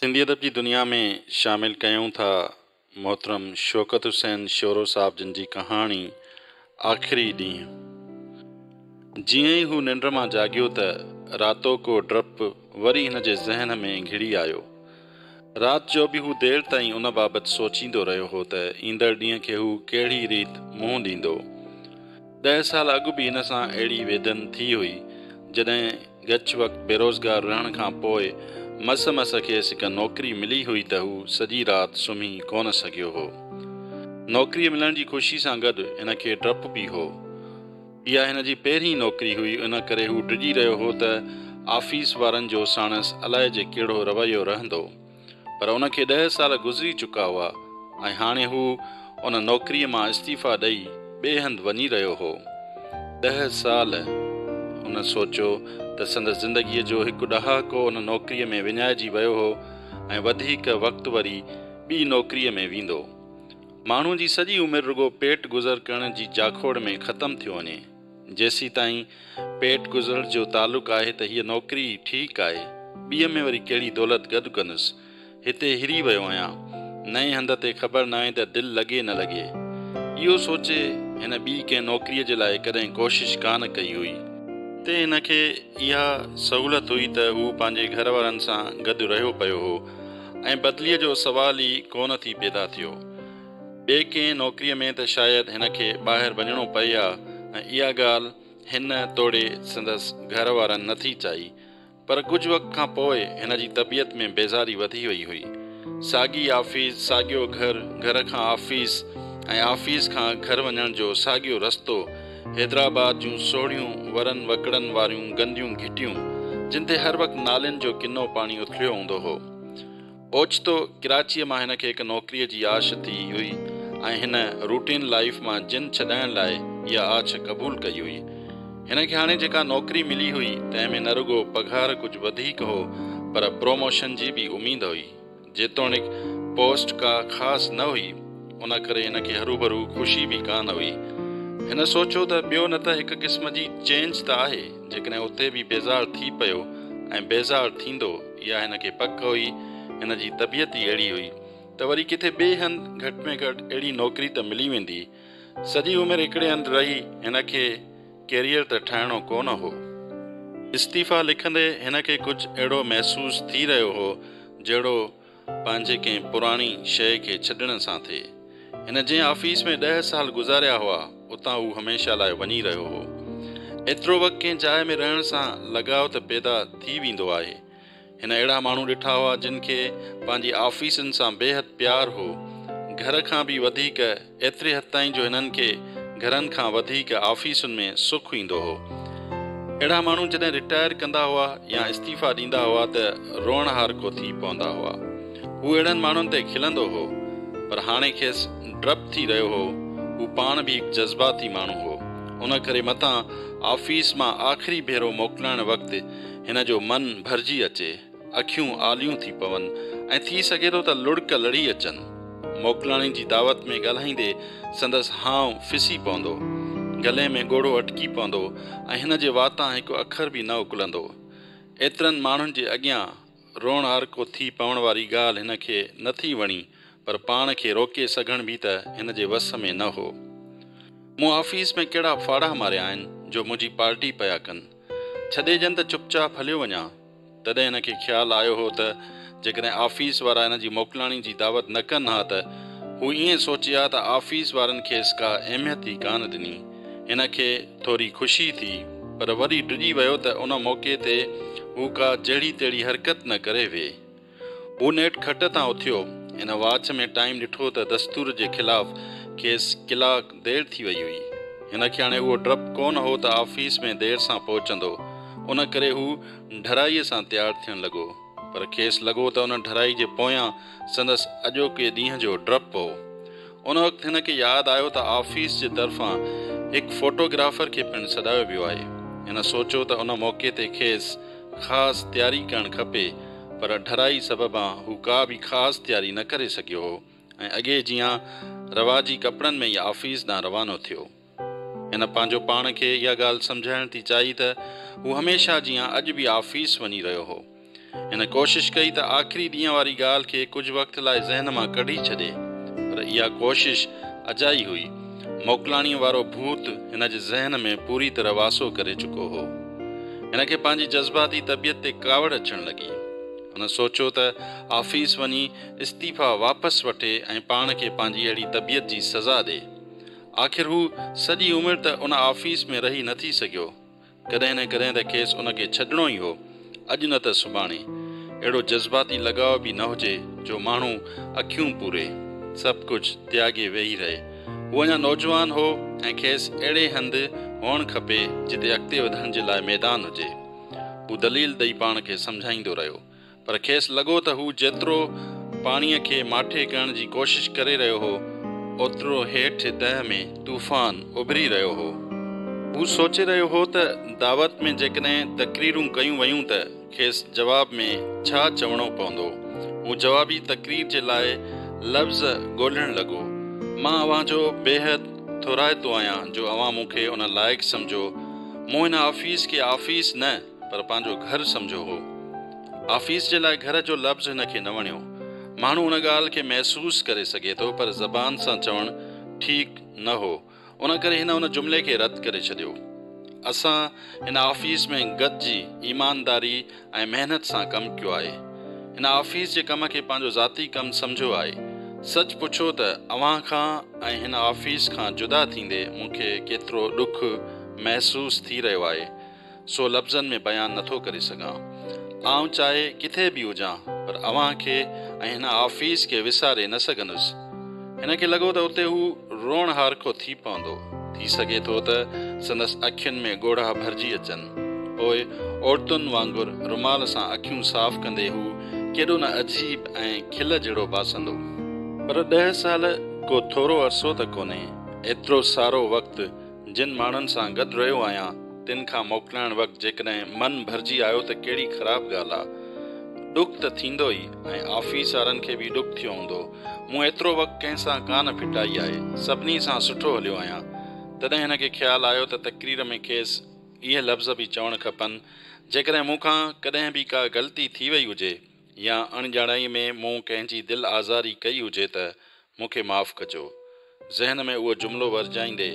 سنڌي ادب جي دنيا ۾ شامل ڪيون ٿا محترم شوڪت حسين شورو صاحب جن جي ڪهاڻي آخري ڏينهن جيئن ئي هو ننڊ مان جاڳيو ته راتوڪو ڊپ وري هن جي ذهن ۾ گهڙي آيو رات جو به هو دير تائين ان بابت سوچيندو رهيو هو ته ايندڙ ڏينهن کي هو ڪهڙي ريت منهن ڏيندو. ڏهه سال اڳ به هن سان اهڙي ويڌن ٿي هئي، جڏهن ڳچ وقت بيروزگار رهڻ کان پوء مس مس کيس هڪ نوڪري ملي هئي ته هو سڄي رات سمهي ڪونه سگهيو هو. نوڪريء ملڻ جي خوشي سان گڏ هن کي ڊپ به هو. اها هن جي پهرين نوڪري هئي، ان ڪري هو ڊڄي رهيو هو ته آفيس وارن جو ساڻس الائجي ڪهڙو رويو رهندو. پر ان کي ڏهه سال گذري چڪا هئا ۽ هاڻي هو ان نوڪريء مان استعيفيٰ ڏئي ٻئي هنڌ وڃي رهيو هو. ڏهه سال! هن سوچيو ته سندس زندگيء جو هڪ ڏهاڪو ان نوڪريء ۾ وڃائجي ويو هو ۽ وڌيڪ وقت وري ٻي نوڪريء ۾ ويندو. ماڻهو جي سڄي عمر رڳو پيٽ گذر ڪرڻ جي جاکوڙ ۾ ختم ٿيو وڃي. جيسيتائين پيٽ گذر جو تعلق آهي ته هيء نوڪري ئي ٺيڪ آهي. ٻيء ۾ وري ڪهڙي دولت گڏ ڪندس. هتي هري ويو آهيان. نئين هنڌ تي خبر ناهي ته دل لڳي نه لڳي. اهو سوچي هن ٻي ڪنهن نوڪريء جي لاء ڪڏهن ڪوشش ڪا نه ڪئي هئي. هتي هن کي اها سهولت هئي ته هو پنهنجي گهر وارن سان گڏ رهيو پيو هو. ۽ بدليء جو سوال ئي ڪو نه ٿي پيدا ٿيو. ٻي ڪنهن نوڪريء ۾ ته شايد هن کي ٻاهر وڃڻو پئي ها ۽ اها ڳالهه هن توڙي سندس گهر وارن نه ٿي چائي. پر ڪجهه وقت کان پوء هن جي طبيعت ۾ بيزاري وڌي وئي هئي. ساڳي آفيس، ساڳيو گهر، گهر کان آفيس ۽ آفيس کان گهر وڃڻ جو ساڳيو رستو، حيدرآباد جون سوڙهيون ورن وڪڙن واريون گنديون گهٽيون جن تي هر وقت نالين جو ڪنو پاڻي اٿليو هوندو هو. اوچتو ڪراچيء مان هن کي هڪ نوڪريء جي آڇ ٿي هئي ۽ هن روٽين لائيف مان جن ڇڏائڻ لاء اها آڇ قبول ڪئي هئي. هن کي هاڻي جيڪا نوڪري ملي هئي تنهن ۾ نه رڳو پگهار ڪجهه وڌيڪ هو پر پروموشن جي به اميد هئي. جيتوڻيڪ پوسٽ ڪا خاص نه هئي، ان ڪري هن کي هروڀرو خوشي به ڪانه هئي. هن سوچيو ته ٻيو نه ته هڪ قسم جي چينج ته آهي، جيڪڏهن اتي به بيزار ٿي پيو ۽ بيزار ٿيندو، اها هن کي پڪ هئي، هن جي طبيعت ئي اهڙي هئي، ته وري ڪٿي ٻئي هنڌ گهٽ ۾ گهٽ اهڙي نوڪري ته ملي ويندي، سڄي عمر هڪڙي هنڌ رهي هن کي ڪيريئر ته ٺاهڻو ڪو نه هو. استعيفا لکندي هن کي ڪجهه اهڙو محسوس ٿي رهيو هو جهڙو پنهنجي ڪنهن پراڻي شيء کي ڇڏڻ سان ٿئي. هن جنهن آفيس ۾ ڏهه سال گذاريا هئا اتان هو هميشه لاء وڃي رهيو هو. ايترو وقت ڪنهن جاء ۾ رهڻ سان لڳاء ته پيدا ٿي ويندو آهي. هن اهڙا ماڻهو ڏٺا هئا جن کي پنهنجي آفيسن سان بيحد پيار هو. گهر کان به وڌيڪ ايتري حد تائين جو هنن کي گهرن کان وڌيڪ آفيسن ۾ سک ايندو هو. اهڙا ماڻهو جڏهن رٽائر ڪندا هئا يا استعيفا ڏيندا هئا ته روئڻهارڪو ٿي پوندا هئا. هو اهڙن ماڻهن تي کلندو هو. پر هاڻي کيس ڊپ ٿي رهيو هو. هو پاڻ به هڪ جذباتي ماڻهو هو. ان ڪري متان آفيس مان آخري ڀيرو موڪلائڻ وقت هن جو من ڀرجي اچي، اکيون آليون ٿي پون ۽ ٿي سگهي ٿو ته لڙڪ لڙي اچن. موڪلاڻي جي دعوت ۾ ڳالهائيندي سندس هانء ڦسي پوندو. گلي ۾ ڳوڙهو اٽڪي پوندو ۽ هن جي واتان هڪ اکر به نه اڪلندو. ايترن ماڻهن جي اڳيان روئڻهارڪو ٿي پوڻ واري ڳالهه هن کي نه ٿي وڻي پر پاڻ کي روڪي سگهڻ به ته هن جي وس ۾ نه هو. مون آفيس ۾ ڪهڙا ڦاڙها ماريا آهن جو منهنجي پارٽي پيا ڪن. ڇڏيجن ته چپ چاپ هليو وڃان. تڏهن هن کي خيال آيو هو ته جيڪڏهن آفيس وارا هن جي موڪلاڻي جي دعوت نه ڪن ها ته هو ائين سوچي ها ته آفيس وارن کيس ڪا اهميت ئي ڪانه ڏني. هن کي ٿوري خوشي ٿي پر وري ڊڄي ويو ته ان موقعي تي هو ڪا جهڙي تهڙي حرڪت نه ڪري ويهي. هو نيٺ کٽ تان اٿيو. هن واچ ۾ ٽائيم ڏٺو ته دستور جي خلاف کيس ڪلاڪ دير ٿي وئي هئي. هن کي هاڻي اهو ڊپ ڪو نه هو ته آفيس ۾ دير سان پهچندو. ان ڪري هو ڍرائي سان تيار ٿيڻ لڳو. پر کيس لڳو ته ان ڍرائي جي پويان سندس اڄوڪي ڏينهن جو ڊپ هو. ان وقت هن کي ياد آيو ته آفيس جي طرفان هڪ فوٽو گرافر کي پڻ سڏايو ويو آهي. هن سوچيو ته ان موقعي تي کيس خاص تياري ڪرڻ کپي پر اڍرائي سببان هو ڪا به خاص تياري نه ڪري سگهيو هو ۽ اڳي جيان رواجي ڪپڙن ۾ ئي آفيس ڏانهن روانو ٿيو. هن پنهنجو پاڻ کي اها ڳالهه سمجهائڻ ٿي چاهي ته هو هميشه جيان اڄ به آفيس وڃي رهيو هو. هن ڪوشش ڪئي ته آخري ڏينهن واري ڳالهه کي ڪجهه وقت لاء ذهن مان ڪڍي ڇڏي. پر اها ڪوشش اجائي هئي. موڪلاڻيء وارو ڀوت هن جي ذهن ۾ پوري طرح واسو ڪري چڪو هو. هن کي پنهنجي جذباتي طبيعت تي ڪاوڙ اچڻ لڳي. هن سوچيو ته آفيس وڃي استعيفيٰ واپس وٺي ۽ پاڻ کي پنهنجي اهڙي طبيعت جي سزا ڏئي. آخر هو سڄي عمر ته ان آفيس ۾ رهي نه ٿي سگهيو. ڪڏهن نه ڪڏهن ته کيس ان کي ڇڏڻو ئي هو. اڄ نه ته سڀاڻي. اهڙو جذباتي لڳاء به نه هجي جو ماڻهو اکيون پوري. سڀ ڪجهه تياڳي ويهي رهي. هو اڃا نوجوان هو ۽ کيس اهڙي هنڌ هئڻ کپي جتي اڳتي وڌڻ جي لاء ميدان هجي. هو دليل ڏئي پاڻ کي سمجهائيندو رهيو. پر کيس لڳو ته هو جيترو پاڻيء کي ماٺي ڪرڻ جي ڪوشش ڪري رهيو هو، اوترو هيٺ تهه ۾ طوفان اڀري رهيو هو. هو سوچي رهيو هو ته دعوت ۾ جيڪڏهن تقريرون ڪيون ويون ته کيس جواب ۾ ڇا چوڻو پوندو. هو جوابي تقرير جي لاء لفظ ڳولهڻ لڳو. مان اوهان جو بيحد ٿورائتو آهيان جو اوهان مون کي ان لائق سمجهو. مون هن آفيس کي آفيس نه، پر پنهنجو گهر سمجهيو هو. آفيس جي لاء گهر جو لفظ هن کي نه وڻيو. ماڻهو ان ڳالهه کي محسوس ڪري سگهي ٿو پر زبان سان چوڻ ٺيڪ نه هو. ان ڪري هن ان جملي کي رد ڪري ڇڏيو. اسان هن آفيس ۾ گڏجي ايمانداري ۽ محنت سان ڪم ڪيو آهي. هن آفيس جي ڪم کي پنهنجو ذاتي ڪم سمجهيو آهي. سچ پڇو ته اوهان کان ۽ هن آفيس کان جدا ٿيندي مون کي ڪيترو ڏک محسوس ٿي رهيو آهي. سو لفظن ۾ بيان نه ٿو ڪري سگهان. آئون چاهي ڪٿي به هجان پر اوهان کي ۽ هن آفيس کي وساري نه سگهندس. هن کي لڳو ته اتي هو روئڻ هارکو ٿي پوندو. ٿي سگهي ٿو ته سندس اکين ۾ ڳوڙها ڀرجي اچن. پوء عورتن وانگر رومال سان اکيون صاف ڪندي هو ڪيڏو نه عجيب ۽ کل جهڙو باسندو. پر ڏهه سال ڪو ٿورو عرصو ته ڪونهي. ايترو سارو وقت جن ماڻهن سان گڏ رهيو آهيان، تن کان موڪلائڻ وقت جيڪڏهن من ڀرجي آيو ته ڪهڙي خراب ڳالهه آ. ڏک ته ٿيندو ئي ۽ آفيس وارن کي به ڏک ٿيو هوندو. مون ايترو وقت ڪنهن سان ڪا نه ڦٽائي آهي. سڀني سان سٺو هليو آهيان. تڏهن هن کي خيال آيو ته تقرير ۾ کيس اهي لفظ به چوڻ کپن، جيڪڏهن مون کان ڪڏهن به ڪا غلطي ٿي وئي هجي يا اڻڄاڻائي ۾ مون ڪنهن جي دل آزاري ڪئي هجي ته مون کي معاف ڪجو. ذهن ۾ اهو جملو ورجائيندي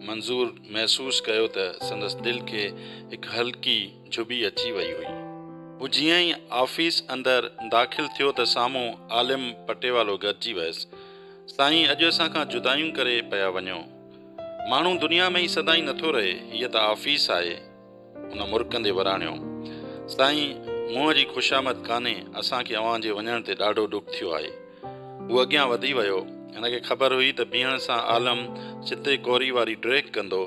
منظور محسوس ڪيو ته سندس دل کي هڪ هلڪي جهٻي اچي وئي هئي. هو جيئن ئي آفيس اندر داخل ٿيو ته سامهون عالم پٽيوالو گڏجي ويس. سائين اڄ اسان کان جدايون ڪري پيا وڃو. ماڻهو دنيا ۾ ئي سدائين نٿو رهي. هيء ته آفيس آهي. هن مرڪندي وراڻيو، سائين منهن جي خوشامد ڪانهي، اسان کي اوهان جي وڃڻ تي ڏاڍو ڏک ٿيو آهي. هو اڳيان وڌي ويو. هن کي خبر هئي ته بيهڻ سان عالم سڌي ڪوري واري ڊريڪ ڪندو.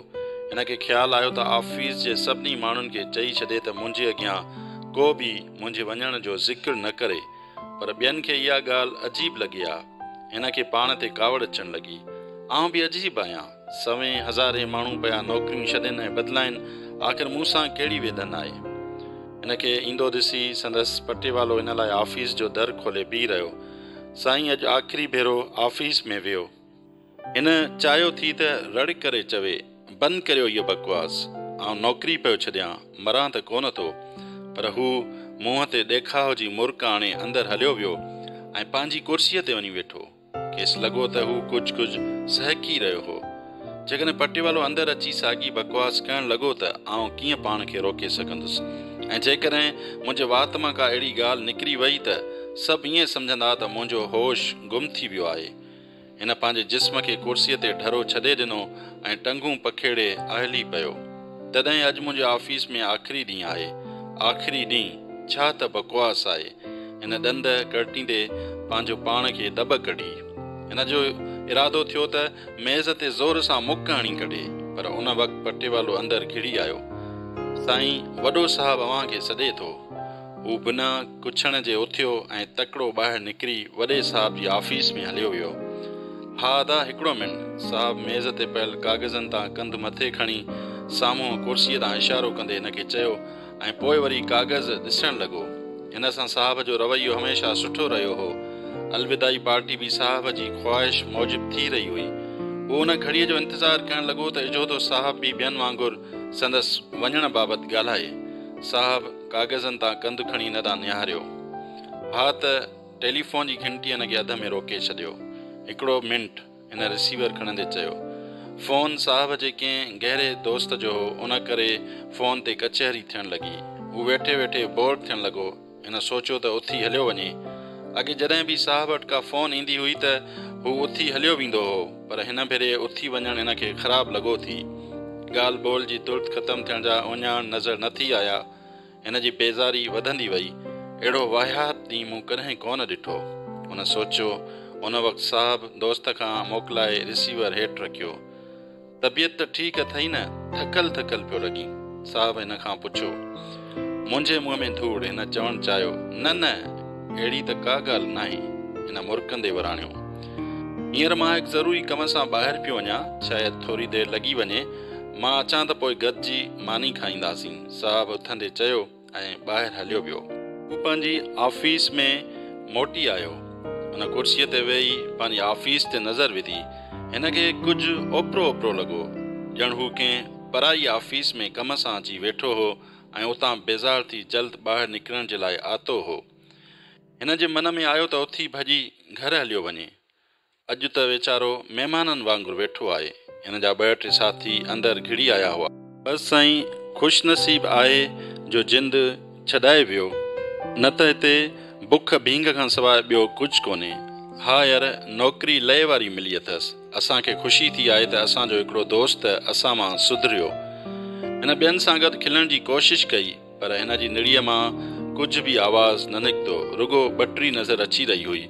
هن کي خيال آيو ته آفيس جي سڀني ماڻهن کي چئي ڇڏي ته منهنجي اڳيان ڪو به منهنجي وڃڻ جو ذڪر نه ڪري. پر ٻين کي اها ڳالهه عجيب لڳي ها. هن کي پاڻ تي ڪاوڙ اچڻ لڳي. آئون به عجيب آهيان. سوين هزارين ماڻهو پيا نوڪريون ڇڏين ۽ بدلائين، آخر مون سان ڪهڙي ويلن آهي؟ هن کي ايندو ڏسي سندس پٽيوالو هن لاء آفيس جو در کولي بيهي رهيو. سائين اڄ آخري ڀيرو آفيس ۾ ويو. هن چاهيو ٿي ته رڙ ڪري چوي، بند ڪريو اهو بڪواس، آئون نوڪري پيو ڇڏيان، مران ته ڪونه ٿو. پر هو منهن تي ڏيکاء جي مرڪ آڻي اندر هليو ويو ۽ پنهنجي ڪرسيء تي وڃي ويٺو. کيس لڳو ته هو ڪجهه ڪجهه سهڪي رهيو هو. جيڪڏهن پٽيوالو اندر اچي ساڳي بڪواس ڪرڻ لڳو ته آئون ڪيئن پاڻ کي روڪي سگهندس ۽ جيڪڏهن منهنجي وات مان ڪا اهڙي ڳالهه نڪري وئي ته سڀ ائين سمجهندا ته منهنجو هوش گم ٿي ويو آهي. هن پنهنجي جسم کي ڪرسيء تي ڍرو ڇڏي ڏنو ۽ ٽنگون پکيڙي اهلي پيو. تڏهن اڄ منهنجي آفيس ۾ آخري ڏينهن آهي. آخري ڏينهن ڇا ته بڪواس آهي. هن ڏند ڪڙٽيندي پنهنجو پاڻ کي دٻ ڪڍي. هن جو ارادو ٿيو ته ميز تي زور سان مڪ هڻي ڪڍي پر ان وقت پٽيوالو اندر گهڙي آيو. سائين وڏو صاحب اوهان کي سڏي ٿو. هو بنا ڪڇڻ جي اٿيو ۽ تڪڙو ٻاهر نڪري وڏي صاحب جي آفيس ۾ هليو ويو. ها ادا هڪڙو منٽ. صاحب ميز تي پيل ڪاغذن تان ڪنڌ مٿي کڻي سامهون ڪرسيء ڏانهن اشارو ڪندي هن کي چيو ۽ پوء وري ڪاغذ ڏسڻ لڳو. هن سان صاحب جو رويو هميشه سٺو رهيو هو. الوداعي پارٽي به صاحب جي خواهش موجب ٿي رهي هئي. هو ان گهڙيء جو انتظار ڪرڻ لڳو ته اجهوتو صاحب به ٻين وانگر سندس وڃڻ بابت ڳالهائي. صاحب! ڪاغذن تان ڪنڌ کڻي نه ڏانهن نهاريو. ها ته ٽيليفون جي گهنٽي هن کي اڌ ۾ روڪي ڇڏيو. هڪڙو منٽ، هن رسيور کڻندي چيو. فون صاحب جي ڪنهن گهري دوست جو هو، ان ڪري فون تي ڪچهري ٿيڻ لڳي. هو ويٺي ويٺي بور ٿيڻ لڳو. هن سوچيو ته اٿي هليو وڃي. اڳي جڏهن به صاحب وٽ ڪا فون ايندي هئي ته هو اٿي هليو ويندو هو. پر هن ڀيري اٿي وڃڻ هن کي خراب لڳو ٿي. ڳالهه ٻولهه جي ترت ختم ٿيڻ جا اوڃاڻ نظر نه ٿي آيا. هن جي بيزاري وڌندي وئي. اهڙو واهيات ڏينهن مون ڪڏهن ڪونه ڏٺو. هن سوچيو. ان وقت صاحب دوست کان موڪلائي رسيور هيٺ رکيو. طبيعت ته ٺيڪ اٿئي نه؟ ٿڪل ٿڪل پيو لڳين. صاحب هن کان پڇيو. منهنجي منهن ۾ ڌوڙ! هن چوڻ چاهيو. نه نه! اهڙي ته ڪا ڳالهه ناهي. هن مرڪندي وراڻيو. هينئر مان هڪ ضروري ڪم سان ٻاهر پيو وڃان، شايد ٿوري دير لڳي وڃي. مان اچان ته پوء گڏجي ماني کائينداسين. صاحب اٿندي چيو ۽ ٻاهر هليو ويو. هو پنهنجي آفيس ۾ موٽي آيو. هن ڪرسيء تي ويهي پنهنجي آفيس تي نظر وڌي. هن کي ڪجهه اوپرو اوپرو لڳو، ڄڻ هو ڪنهن پرائي آفيس ۾ ڪم سان اچي ويٺو هو ۽ اتان بيزار ٿي جلد ٻاهر نڪرڻ جي لاء آتو هو. هن جي من ۾ آيو ته اٿي ڀڄي گهر هليو وڃي. اڄ ته ويچارو مهمانن وانگر ويٺو آهي. هن جا ٻه ٽي ساٿي اندر گهڙي آيا هئا. بس سائين خوش نصيب آهي جو جند ڇڏائي ويو نه ته هتي بک ڀينگ کان سواء ٻيو ڪجهه ڪونهي. ها ير نوڪري لئي واري ملي اٿس. اسان کي خوشي ٿي آهي ته اسان جو هڪڙو دوست اسان مان سڌريو. هن ٻين سان گڏ کلڻ جي ڪوشش ڪئي پر هن جي نڙيء مان ڪجهه به آواز نه نڪتو، رڳو ٻٽري نظر اچي رهي هئي.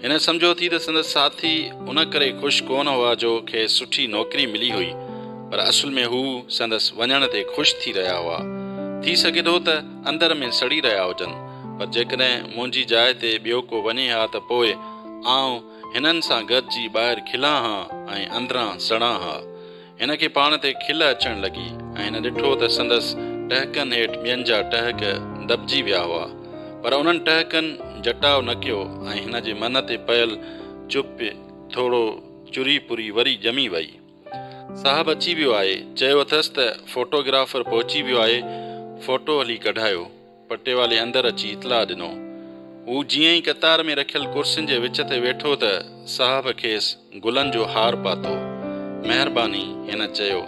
هن سمجهيو ٿي ته سندس ساٿي ان ڪري خوش ڪونه هئا جو کيس سٺي نوڪري ملي هئي پر اصل ۾ هو سندس وڃڻ تي خوش ٿي رهيا هئا. ٿي سگهي ٿو ته اندر ۾ سڙي رهيا هجن پر جيڪڏهن منهنجي جاء تي ٻيو ڪو وڃي ها ته پوء آئون هنن سان گڏجي ٻاهر کلان ها ۽ اندران سڙان ها. هن کي پاڻ تي کل اچڻ لڳي ۽ هن ڏٺو ته سندس ٽهڪن هيٺ ٻين جا ٽهڪ دٻجي ويا هئا. پر انهن ٽهڪن جٽاء نه ڪيو ۽ هن جي من تي پيل چپ ٿورو چري پري وري ڄمي وئي. صاحب اچي ويو آهي. چيو اٿس ته فوٽو گرافر پهچي ويو آهي، فوٽو هلي ڪڍايو. پٽيوالي اندر اچي اطلاع ڏنو. هو جيئن ئي قطار ۾ رکيل ڪرسين جي وچ تي ويٺو ته صاحب کيس گلن جو هار پاتو. مهرباني! هن چيو.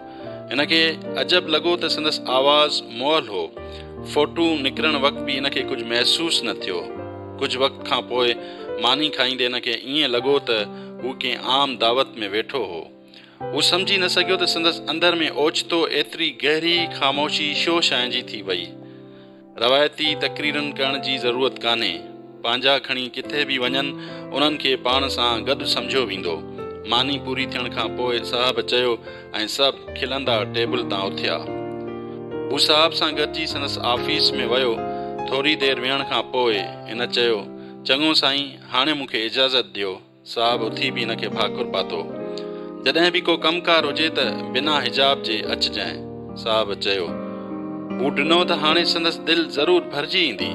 هن کي عجب لڳو ته سندس آواز مئل هو. ڦوٽو نڪرڻ وقت به هن کي ڪجهه محسوس نه ٿيو. ڪجهه وقت کان پوء ماني کائيندي هن کي ائين لڳو ته هو ڪنهن عام دعوت ۾ ويٺو هو. هو سمجهي نه سگهيو ته سندس اندر ۾ اوچتو ايتري گهري خاموشي شو ڇانئجي ٿي وئي. روايتي تقريرن ڪرڻ جي ضرورت ڪانهي. پنهنجا کڻي ڪٿي به وڃن انهن کي پاڻ سان گڏ سمجهيو ويندو. ماني پوري ٿيڻ کان پوء صاحب چيو ۽ سڀ کلندا ٽيبل تان اٿيا. هو صاحب سان گڏجي سندس آفيس ۾ ويو. ٿوري دير ويهڻ کان پوء هن چيو، چڱو سائين هاڻي مون کي اجازت ڏيو. صاحب اٿي به هن کي ڀاڪر پاتو. جڏهن به ڪو ڪم ڪار هجي ته بنا حجاب جي اچجانء. صاحب چيو. مون ڏنو ته هاڻي سندس دل ضرور ڀرجي ايندي.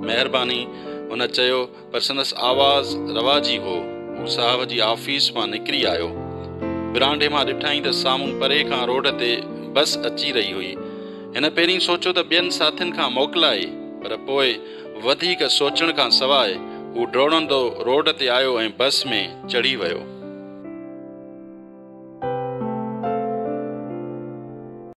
مهرباني. هن چيو پر سندس آواز رواجي هو. هو صاحب جي آفيس مان نڪري آيو. ورانڊي مان ڏٺائين ته سامهون پري کان روڊ تي بس اچي رهي هئي. هن پهرين سوچيو ته ٻين ساٿين کان موڪلائي پر پوء وڌيڪ سوچڻ کان سواء هو ڊوڙندو روڊ تي آيو ۽ بس ۾ چڙهي ويو.